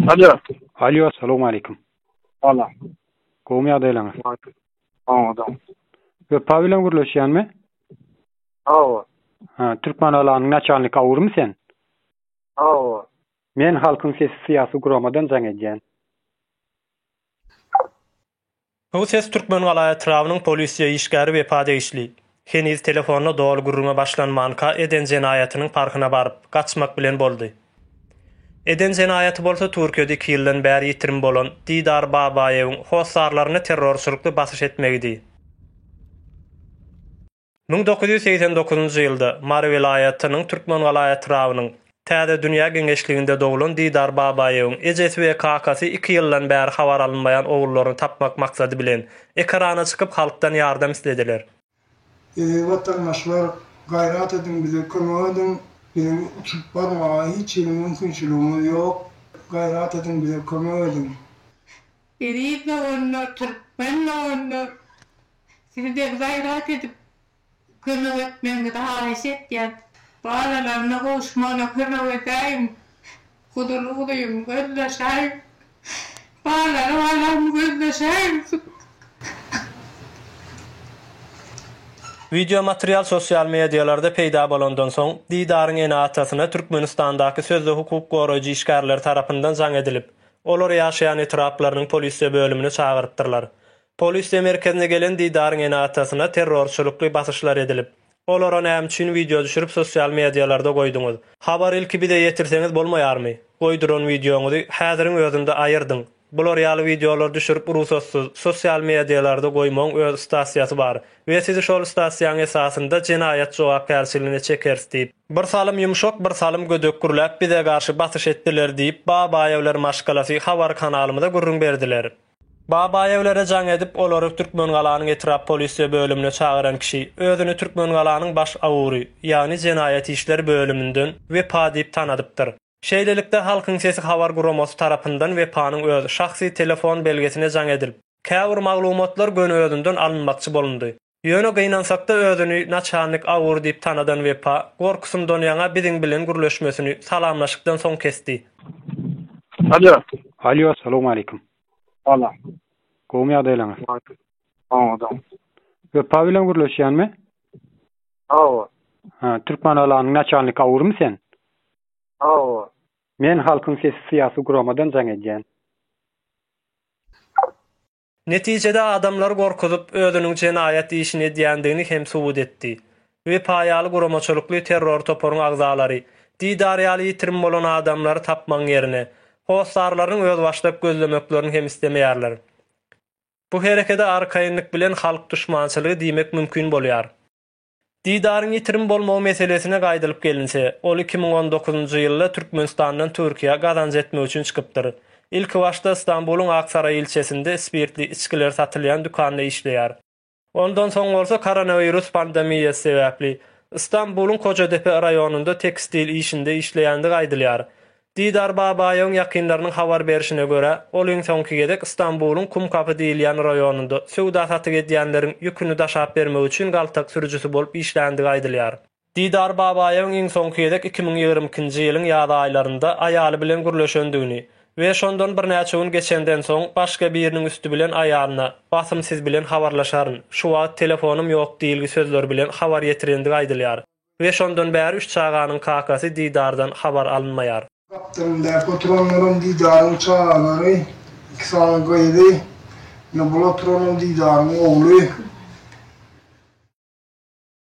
Alo. Alo, salam aleykum. Salam. Gowmy ýagdaýlaryňyz? Salam, adam. Wepa bilen gürleşýänmi? Hawa. Ha, türkmen alanyň naçalnik awurmy sen? Hawa. Men halkyň sesi syýasy guramadan jaň edýän. Bu ses Türkmengala etrabynyň polisiýa işgäri Wepa degişli. Heniz telefonyna doly gürrüňe başlanmanka eden jenaýatynyň parhyna baryp, gaçmak bilen boldy. Eden jenaýaty bolsa Türkiýede iki ýyldan bäri ýitirim bolan Didar Babaýewiň hossarlaryny terrorçylykly basyş etmegidi. Müň dokuz ýüz segsen dokuzynjy ýylda Mary welaýatynyň Türkmengala etrabynyň Täze dünýä geňeşliginde doglan Didar Babaýewiň ejesi we kakasy iki ýyldan bäri habar alynmaýan ogullaryny tapmak maksady bilen, ekrana çykyp halkdan ýardam islediler. Eziz watandaşlar, gaýrat ediň bize kömek ediň, biziň uçup barmaga hiç hili mümkinçiligimiz ýok, gaýrat ediň bize kömek ediň. Eziz doganlar, türkmen doganlar, sizi bir gaýrat edip kömek etmegiňizi haýyş etýän. Balalaryna gowuşmagyna kömek edäýiň, huzurly gudym, gözleşäýiň, balary balam, gözleşäýiň. Wideo material sosial medialarda peýda bolandan soň, Didaryň ene-atasyna Türkmenistandaky sözde hukuk goraýjy işgärleri tarapyndan jaň edilip, Olar ýaşaýan etraplarynyň polisiýa bölümini çagyrypdyrlar. Polisiýa merkezine gelen Didaryň ene-atasyna terrorçylykly basyşlar edilip, Olara näme üçin wideo düşürip sosial medialarda goýduňyz? Habary ilki bize ýetirseňiz bolmaýarmy? Goýduran wideoňyzy häziriň özünde aýyrdyň. Bular ýaly wideolary düşürip rugsatsyz, sosial medialarda goýmagyň öz stasiýasy bar. we sizi şol stasiýaň esasynda jenaýat jogapkärçiligine çekeris diýip, bir salym ýumşak, bir salym gödek gürläp bize garşy basyş etdiler diýip, Babaýewler maşgalasy habar kanalymyza gürrüň berdiler. Babaýewlere jaň edip, olary Türkmengalanyň etrap polisiýa bölümine çagyran kişi, özüni Türkmengalanyň baş awury, ýagny jenaýat işleri bölüminden Wepa diýip tanadypdyr. Şeýlelikde, Halkyň sesi habar guramasy tarapyndan Wepanyň öz şahsy telefon belgesine jaň edilip, käbir maglumatlar göni özünden alynmakçy bolundy. Ýöne gynansakda özüni naçalnik Awur diýip tanadan Wepa, gorkusyndan ýaňa biziň bilen gürleşmesini salamlaşykdan soň kesdi. Alýo. Alýo, salowmaleýkim. Salam. Gowmy ýagdaýlaryňyz? Oňadan. Wepa bilen gürleşýänmi? Hawa. Ha, türkmen alanyň naçalniki awurmy sen? Hawa. Men Halkyň sesi syýasy guramadan jaň edýän. Netijede adamlary gorkuzyp, özüniň jenaýat işini edýändigini hem subut etdi. Wepa ýaly guramaçylykly terror toparyň agzalary, Didar ýaly ýitirim bolan adamlary tapmagyň ýerine, hossarlarynyň özbaşdak gözlemeklerini hem islemeýärler. Bu herekede arkaýynlyk bilen halk duşmançylygy diýmek mümkin bolýar. Didaryň ýitirim bolmagy meselesine gaýdylyp gelinse, ol iki müň on dokuzynjy ýylda Türkmenistandan Türkiýä gazanç etmek üçin çykypdyr. Ilkibaşda Stambulyň Aksaraý ilçesinde spirtli içgiler satylýan dükanda işleýär. Ondan soň bolsa koronawirus pandemiýasy sebäpli, Ystambuluň Kojadepe raýonynda tekstil işinde işleýändigi aýdylýar. Didar Babaýewiň ýakynlarynyň habar berşine görä, ol iň soňky gezek Ystambuluň Kumkapy diýilýän raýonynda söwda-satyk edýänleriň ýüküni daşap bermek üçin galtak sürüjisi bolup işländigi aýdylýar. Didar Babaýewiň iň soňky gezek iki müň ýigrimi ikinji ýylyň ýaz aýlarynda aýaly bilen gürleşendigini we şondan birnäçe gün geçenden soň başga biriniň üsti bilen aýalyna, Basym siz bilen habarlaşaryn, şu wagt telefonym ýok diýilgi sözleri bilen habar ýetirendigi aýdylýar we şondan bäri üç çaganyň kakasy Didardan habar alynmaýar. Gapdalyndaky oturanlaram Didaryň çagalary, iki sany gyzy, ýa bul oturanam Didaryň ogly.